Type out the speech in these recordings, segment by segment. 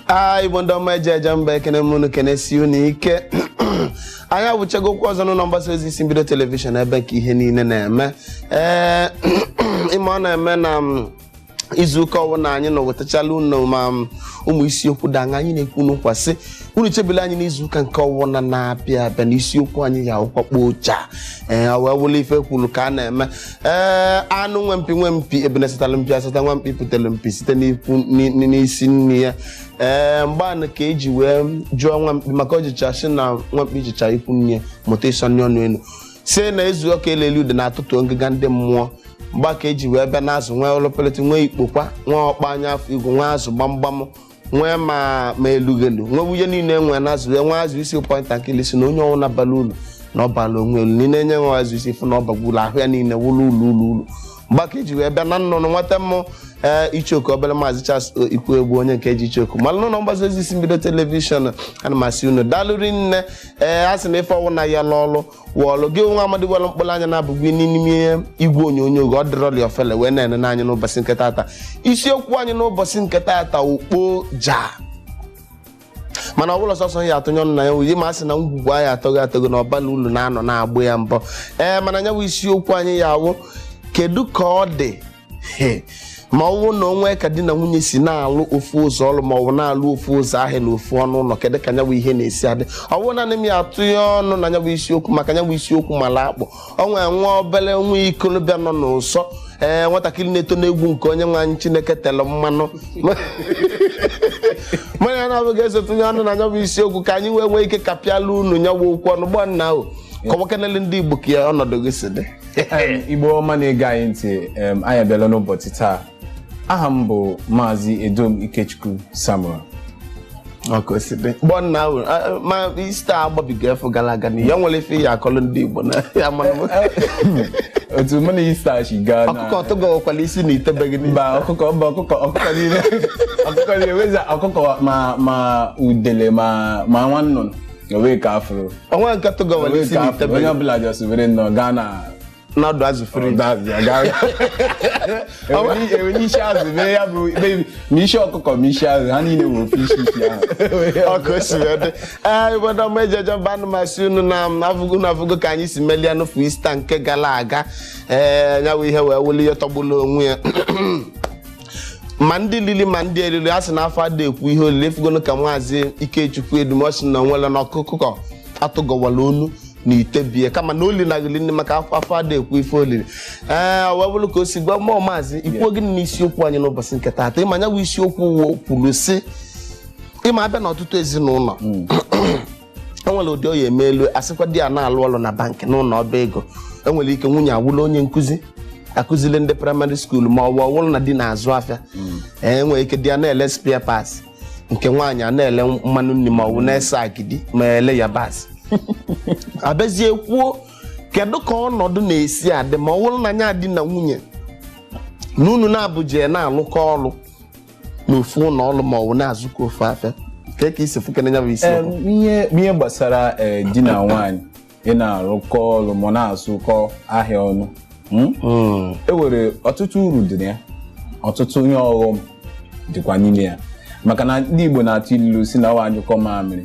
a igbo ndị ọma eji eje mba ekene m unu kenesi unu ike anyị awụchagokwu ọzọ n'ụlọ mgbasa ozi isi mbido telivishọn ebe nke ihe niile na-eme ee ịma ọ na-eme na mm, izu ụka ọbụla anyị na-ewetachala unu ma mm, ụmụ isiokwu danga anyị na-ekwunụkwa sị unu chebelụ anyị n'izu ụka nke ọbụla na-abịa abịa na isiokwu anyị ga-awụkwa kpoo cha ee ọ wee wụlụ ife kwuru ka a na-eme ee anụ nwe mpi nwe mpi ebune sịtara mpi asịta nwa mkpi pụtara mpi site n'ikwu ni- ni- n'isi nne ya ee mgbe anụ ka eji wee jụọ nwa mkpi maka o jecha sị na nwa mkpi jecha ikwu nne ya mụta ịsọni ọnụ elu si na ezu ọka eleli ude na-atụtụ ngịga ndị mmụọ mgbe a ka eji wee bịa n'azụ nwee ọlọpelete nwee ikpokwa nwee ọkpa anya afọ igwe nwee azụ gbamgbam nwee ma ma elughelu nwee ihe niile nwee na azụ nwee azụ isi point and kill sị na onye ọwụna abala ulu na-abala onwe elu niile enye nwe azụ isi fụ na ọ bagburu ahụ ya niile wụlụ ụlọ ụlọ ụlọ mgbe a ka eji wee bịa na nnụnụ nweta mmụ ee ichoku obere maazị Charles ikwuegbu onye nke eji ichoku malụ n'ụlọ mgbasa ozi isi mbido telivishọn ana m asị unu daalụ rinne ee a sị na ife ọwụna ya lụ ọlụ wọlụ gị nwa amadi welụ mkpụrụ anya naabọ gị n'ime igwe onyonyo gị ọ dịrọli ofele wee na-enene anya n'ụbọchị nke taata isiokwu anyị n'ụbọchị nke taata ukpo ja mana ọ bụrọ sọsọ m ya-atụnye ọnụ na ya wụ ihe ma a sị na ngwugwu a ya-atọghe atọghe na ọ balọ ulu na-anọ na-agbụ ya mbọ ee mana ya bụ isiokwu anyị ya-awụ kedu ka ọ dị He, ma ọ bụrụ na o nwe ka di na nwunye si na-alụ ofu ụzọ ọrụ ma ọ bụ na-alụ ofu ụzọ ahịa na ofu ọnụ ụlọ kedụ ka nyabụ ihe na-esi adị ọ bụrọ nanị m ya-atụnye ọnụ na nyabụ isiokwu maka nyabụ isiokwu mara akpụ o nwee nwa obere nwa ikolobịa nọ n'ụsọ ee nwatakịrị na-eto n'egwu nke onye nwe anyị chineke tere mmanụ mụ na ya naabọ ga-eso tụnye ọnụ na nyabụ isiokwu ka anyị wee nwee ike kapịala unu nyabụ okwu ọnụ gbọ nnaa kọwakenele ndị igbo ka ya ọnọdụ gị si dị Em, igbo ọma na-ege anyị ntị em, anyị abịala n'ụbọchị taa aha m bụ maazị edom ikechukwu samuel ọka osibe gbọ nnaa a- a- ma ista agbabiga afụ gara aga na ya nwere ife ị ya-akọlụ ndị igbo na ya mara m. otu mụ na ista si gaa na ọkụkọ tụgọkwala isi n'ite be gị n'ihe mba ọkụkọ mba ọkụkọ ọkụkọ niile ọkụkọ niile weza ọkụkọ ma ma udele ma ma nwa nnụnụ o nwe ka a fụrụ o nwe nke tụgọwara o nwe isi ka a fụrụ n'ite be onye ọbụla just were nnọọ gaa na na ọdụ azụ fri That's ya, gaa- Ewere- ewere isi azụ mee ya bụ mee- ma isi ọkụkọ ma isi azụ ha niile were ofe isi isi ahụ ọkụ si wee dị ee obodo ọma eji eje mba ana m asị unu na m afụgo na afụgo ka anyị si melie n'ofu ista nke gara aga ee nya wụ ihe wee wụlụ ihe tọgbulu onwe ya ma ndị lili ma ndị elili a sị na afọ ada ekwu ihe o lili ị fugonu ka maazị ikechukwu edumọsi na o nwere na ọkụkọ atụgọwala onu na ite bie kama na oli na ghili nni maka afọ afọ ada ekwu ife o lili ee ọ wee bụrụ ka o si gwa mụ o maazị i kwuo gịnị na isiokwu anyị n'ụbọchị nke taata ịma ya bụ isiokwu kwuru sị ịma abịa n'ọtụtụ ezinụlọ enwere ụdị ọ ya-emelụ a sịkwa di ya na-alụ ọrụ na bankị n'ụlọ ọba ego enwere ike nwunye awụlụ onye nkụzi akụzili ndị praịmarị skuulu ma ọ bụ ọwụrụ na di na-azụ afịa hmm. enwere ike di ya na-ele spare parts nke nwaanyị a na-ele mmanụ nri ma ọ bụ na-esi agidi ma ele yabasị a bịazie kwuo kedu ka ọnọdụ na-esi adị ma ọ wụrụ na nya di na nwunye na unu naabọ je na-alụkọ ọrụ n'ofu ụlọ ọrụ ma ọ bụ na-azụkọ ofu afịa ka ka i si fụkene ya bụ isi Em, okwu ihe ihe gbasara eh, di na nwaanyị ị na-arụkọ ọrụ ma na-azụkọ ahịa ọnụ mm? Mm, e nwere ọtụtụ uru dị na ya ọtụtụ ihe ọghọm dịkwa n'ime ya maka na ndị Igbo na-atụ ilu sị na ọ a nyụkọọ mamịrị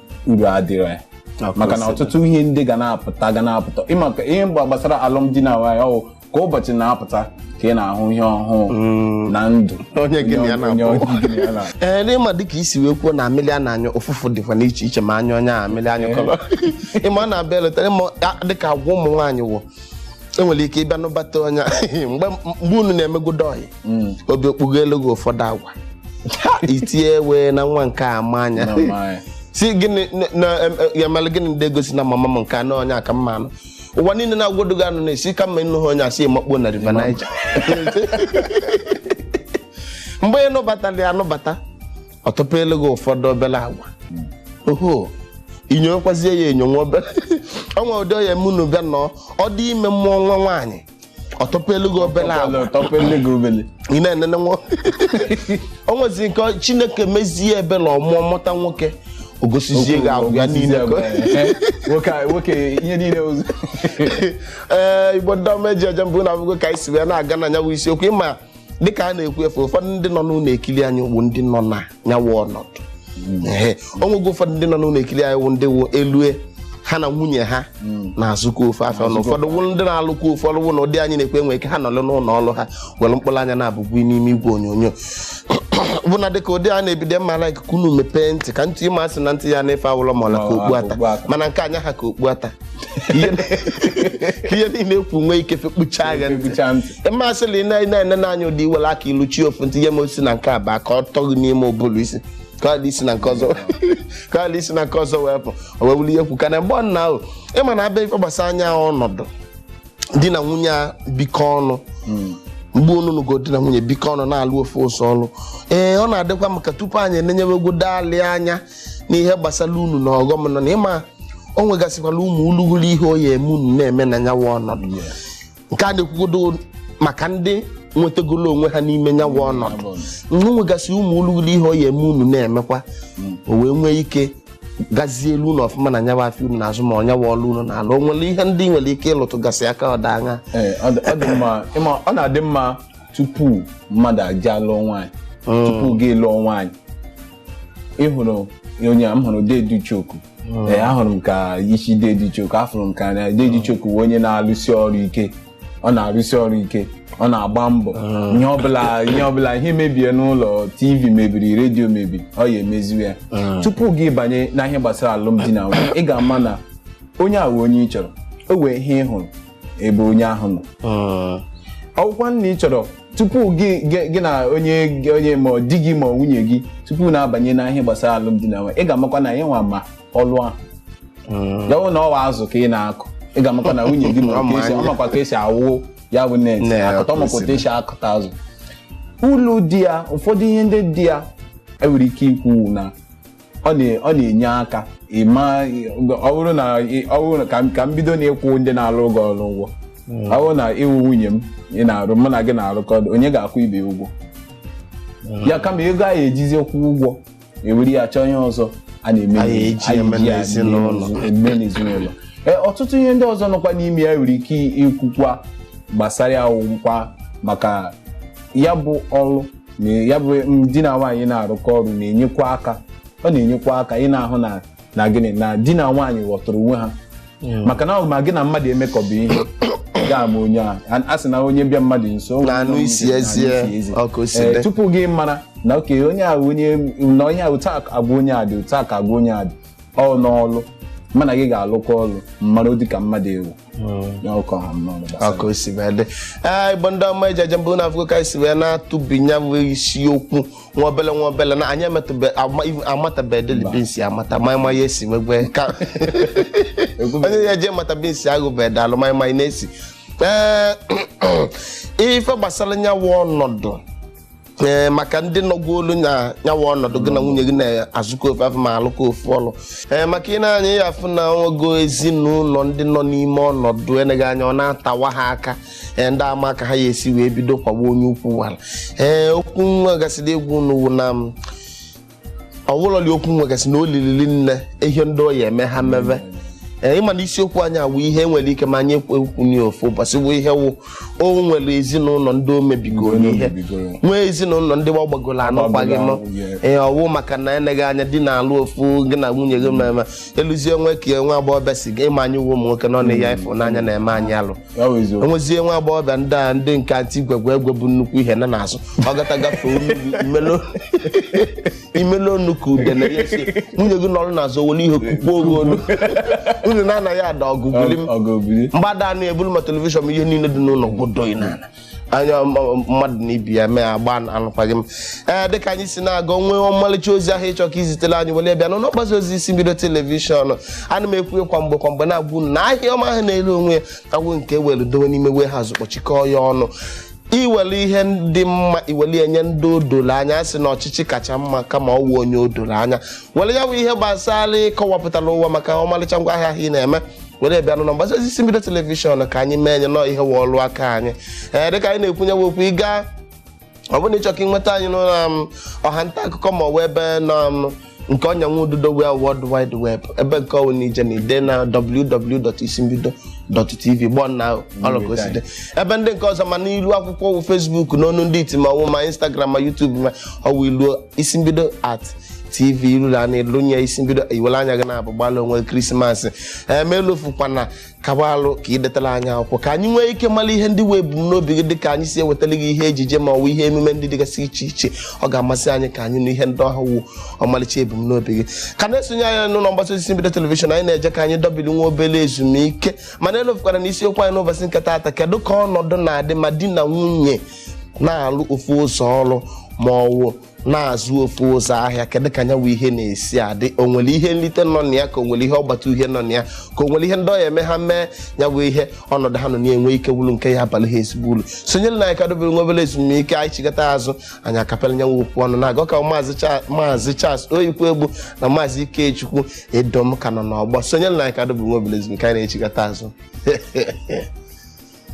uru adịrọ ya maka na ọtụtụ ihe ndị ga na-apụta ga na-apụta ịma ka ihe mgba gbasara alụmdi na nwaanyị ọ wụ ka ụbọchị na-apụta ka ị na-ahụ ihe ọhụụ na ndụ onye gị na ya onye na-akpọ onye gị na ya na- ee n'ịma dịka i si wee kwuo na amịlị a na-anyụ ụfụfụ dịkwa n'iche iche ma anyụ onye a amịlị a nyụkọrọ ịma ọ na-abịa eletara ịma a- dịka agwa ụmụ nwaanyị wụ enwere ike ị bịa nụbata onye mgbe mgbe unu na-emegodo ọyị Mm. obi okpugo elu gị ụfọdụ agwa Ha, i tinye wee na nwa nke a ma anya Na my- si gịnị na- na- em- em- ya mere gịnị ndị egwu sị na mama m nke anọ onye a ka m ma anụ ụwa niile na-agwado gị anụna ị sị kama ị nụghị onye a sị makpuo na river Niger mgbe ị nụbatara ya anụbata ọ tụpụrụ gị ụfọdụ obere agwa oho i nyowekwazie ya enyo nwa obere ọnwa ụdị ọ ya-eme unu bịa nọ ọ dị ime mụọ nwa nwaanyị ọ tụpụrụ gị obere agwa ị na-enene nwa o nwezi nke ọ- chineke mezie ebere ọ mụọ mụta nwoke o gosizie gị agwa ya niile ka- nwoke ihe niile o zuo ee Igbo ndị ọma e ji eje mba unu afụgo ka anyị si wee na-aga na ya bụ isiokwu ịma dịka a na-ekwu efe ụfọdụ ndị nọ n'ụlọ ekiri anyị wụ ndị nọ na nya wụ ọnọdụ Ehe. o nwego ụfọdụ ndị nọ n'ụlọ ekiri anyị wụ ndị wụ e lue ha na nwunye ha na-azụkọ ofu afịa ọnụ ụfọdụ wụ ndị na-alụkọ ụfọdụ wụ na ụdị anyị na-ekwu e nwee ike ha nọlụ n'ụlọ ọrụ ha were mkpụrụ anya na-abụgbu n'ime igwe onyonyo bụ na dịka ụdị a na-ebido m ma like ka unu mepee ntị ka ntị ịma a sị na ntị ya-anụ ife awụlọ ma ọ la ka okpu ata Okpu ata. mana nke anyị ha ka okpu ata ihe niile e kwuru nwee ike kpucha agha ntị ịmasịla ị na-ene n'anya ụdị i were aka iluchi ofu ntị ihe ma o si na nke a baa ka ọ tọ gị n'ime ụbụrụ isi ka isi na nke ọzọ ka isi na nke ọzọ wee pụọ wee wuli ihe kwu ka na mgbe ọ na ahụ ịma na abịa ife gbasara nyawa ọnọdụ di na nwunye a bikọ ọnụ hmm. mgbe onunugo di na nwunye bikọ ọnụ na-alụ ofu ụsọ ọlụ ee ọ na-adịkwa maka tupu anyị enenyewegodo alị anya n'ihe gbasara uru na ọghọm nọ na ịma o nwegasịkwala ụmụ ulughuru ihe oyi eme unu na-eme na nyawa ọnọdụ nke a na-ekwugodo maka ndị nwetagolo onwe ha n'ime nyawa ọnọdụ o nwegasị ụmụ ulughuru ihe oyi eme unu na-emekwa o wee nwee ike gazielu unu ọfụma na nyawa afịa unu na-azụ ma ọ nyawa ọlụ unu na-alụ o nwere ihe ndị nwere ike ịlụtụgasị aka ọ dị aṅaa Ee, ọ dị- ọ dị mma ịma ọ na-adị mma tupu mmadụ agaa lụọ nwaanyị tupu gị lụọ nwaanyị ị hụrụ onye m hụrụ dede choku ee ahụrụ m ka isi dede choku afụrụ m ka anya dede choku bụ onye na-alụsi ọrụ ike ọ na-arụsi ọrụ ike ọ na-agba mbọ ihe ọbụla ihe ọbụla ihe mebie n'ụlọ tv mebiri redio mebiri ọ ya emeziwe ya tupu gị abanye na ihe gbasara alụmdi na nwunye ị ga-ama na onye a wụ onye ị chọrọ o nwee ihe ị hụrụ ebe onye ahụ nọ Mm. ọ wụkwa nna ị chọrọ tupu gị gị- gị na onye gị- onye ma ọ di gị ma ọ nwunye gị tupu unu abanye na ihe gbasara alụmdi na nwunye ị ga-amakwa na ya nwa ma ọlụ ahụ Mm. ya wụ na ọ wụ azụ ka ị na-akụ ị ga-amakwa na nwunye gị ma Ọ ma ka esi- anya. ọ makwa ka esi awụ ya bụ net Net, akụta ọ makwa otu kwesịrị. esi akụta azụ ulu dị ya ụfọdụ ihe ndị dị ya e nwere ike ikwu na ọ na- ọ na-enye aka ịma ọ bụrụ na ị- ọ bụrụ na- ka m- ka m bido na ịkwụ ndị na-arụ ụgwọ ọrụ ụgwọ ọ bụrụ na ị wụ nwunye m ị na-arụ mụ na gị na-arụkọ ọrụ, onye ga-akwụ ibe ya ụgwọ ya kama ego a ya-ejizi kwụ ụgwọ e were ya chọọ ihe ọzọ a na-eme A ga-eji a eme ga-eji ya n'ezinụlọ. eme eme n'ezinụlọ Ee, ọtụtụ ihe ndị ọzọ nọkwa n'ime ya nwere ike ikwukwa gbasara ya wụkwa maka ya bụ ọrụ na ya bụ di na nwaanyị na-arụkọ ọrụ na-enyekwa aka ọ na-enyekwa aka ị na-ahụ na na gịnị na di na nwaanyị ghọtara onwe ha maka na ọ bụ ma gị na mmadụ emekọba ihe ga-ama onye a A- a sị na onye bịa mmadụ nso o nwere Na-anụ onye isi na-anụ eze, isi eze. ọ ka o si Ee, dị. tupu gị mara na oke onye a onye na onye a otu a ka agwa onye a dị otu a ka agwa onye a dị ọ n'ọlụ mụ na gị ga-alụkọ ọlụ m mara ọ dị ka mmadụ ewu ọ ka o si wee dị ee igbo ndị ọma eji eje mba unu afụgo ka esi wee na-atụbi nyawa isiokwu nwa obele nwa obele na anyị amatabedeli beans amata maịmaị a esi wegwe ka onye ya eji mata beans agụbe dalụ maịmaị na-esi ee ife gbasara nyawa ọnọdụ ee maka ndị nọgwu olu na nya wụ ọnọdụ gị na nwunye gị na-azụkọ ofu afịa ma alụkọ ofu ọlụ ee maka ị nee anya ị ya-afụ na e nwego ezinụlọ ndị nọ n'ime ọnọdụ eleghị anya ọ na-atawa ha aka ee ndị ama ka ha ya-esi wee bido kwagbuo onye ukwu wara ee okwu nwa gasịrị egwu n'uwu na m ọwụlọli okwu nwegasị na olilili nne ihe ndị ọ ya-eme ha meve ee ị ma na isiokwu anyị awụ ihe nwere ike ma anyị ekwu ekwu n'ofu ụbọchị bụ ihe wụ o nwere ezinụlọ ndị o mebigoro ihe nwee ezinụlọ ndị gbagoro anụkwaghị m ee ọ wụ maka na eneghị anya di na-alụ ofu gị na nwunye gị mmemme eluzie nwe ka nwa agbọghọbịa si gị ị ma anyị wụ ụmụ nwoke nọ na ya ịfụ n'anya na-eme anyị alụ Ya bụ eziokwu. e nwezie nwa agbọghọbịa ndị a ndị nke ati gwegwe egwe bu nnukwu ihe na n'azụ ọ gata gafee olu gị, imelo- imelo onu ka udene ya si nwunye gị nọrọ n'azụ were ihe kukpuo gị olu unu na-ana ya ada ọgụ buli m Ọ- ọ ga-ebuli. mgba da unu ebulu ma telivishọn ma ihe niile dị n'ụlọ gụdoi n'ala anya m- m- mmadụ na ibe ya mee agba anụkwaghị m ee dịka anyị si na-aga nwee ọmalịcha ozi ahụ ị chọ ka i zitere anyị were bịa n'ụlọ mgbasa ozi isi mbido telivishọn ana m ekwu ya kwa mgbe kwa mgbe na-agwa unu na ahịa ọma ahụ na-ere onwe ya awụ nke e were dowe n'ime warehouse kpọchikọọ ya ọnụ i nwere ihe dị mma i were ya nye ndị o doro anya a sị na ọchịchị kacha mma kama ọ wụ onye o doro anya were ya bụ ihe gbasara ịkọwapụtara ụwa maka ọmalịcha ngwa ahịa ahụ ị na-eme were bịa n'ụlọ mgbasa ozi isi mbido telivishọn ka anyị menye nnọọ ihe wụ ọlụ aka anyị ee dịka anyị na-ekwu nya bụ okwu ịga ọ bụrụ na ị chọ ka ị nweta anyị n'ụlọ um, ọha nta akụkọ ma ọ bụ ebe nọ um, nke ọnya ududo wụ world wide web ebe nke ọ wụ na ije na ide na www.isimbido.tv gbọ na ọlọkoside ebe ndị nke ọzọ ma n'ilu akwụkwọ wụ Facebook n'onu ndị iti ma ọ wụ ma Instagram ma YouTube ma ọ wụ ilu isi mbido at tv iruru a na-elunye isi mbido i were anya gị naabọ gbalụ onwe krismas ma elofukwana ka ị gbalị ka i detara anyị akwụkwọ ka anyị nwee ike mara ihe ndị wụ ebumnobi gị dịka anyị si ewetara gị ihe ejije ma ọ bụ ihe emume ndị dịgasị iche iche ọ ga-amasị anyị ka anyị nụ ihe ndị ahụ wụ ọmalịcha ebumnobi gị ka ị na-esonye anyị n'ụlọ mgbasa ozi mbido telivishọn anyị na-eje ka anyị dọbiri nwa obere ezumike mana elofukwara na isiokwu anyị n'ụbọchị nke taata kedu ka ọnọdụ na-adị ma di na nwunye na-alụ ofu ụzọ ọrụ ma ọ wụ na-azụ ofu ụzọ ahịa kedu ka nya wụ ihe na-esi adị o nwere ihe nlite nọ na ya ka o nwere ihe ọgbata uhie nọ na ya ka o nwere ihe ndị ọ ya-eme ha mee nya wụ ihe ọnọdụ ha nọ na-enwe ike wụrụ nke ya-abalụ ha ezigbo uru sonyere na anyị ka dobere nwa obere ezumike anyị chigata azụ anyị akapịala nya wụ okwu ọnụ na-aga ka maazị Cha- maazị Charles Oyikwu Egbu na maazị Ikechukwu Edom ka nọ n'ọgbọ sonyere na anyị ka dobere nwa obere ezumike anyị na-echigata azụ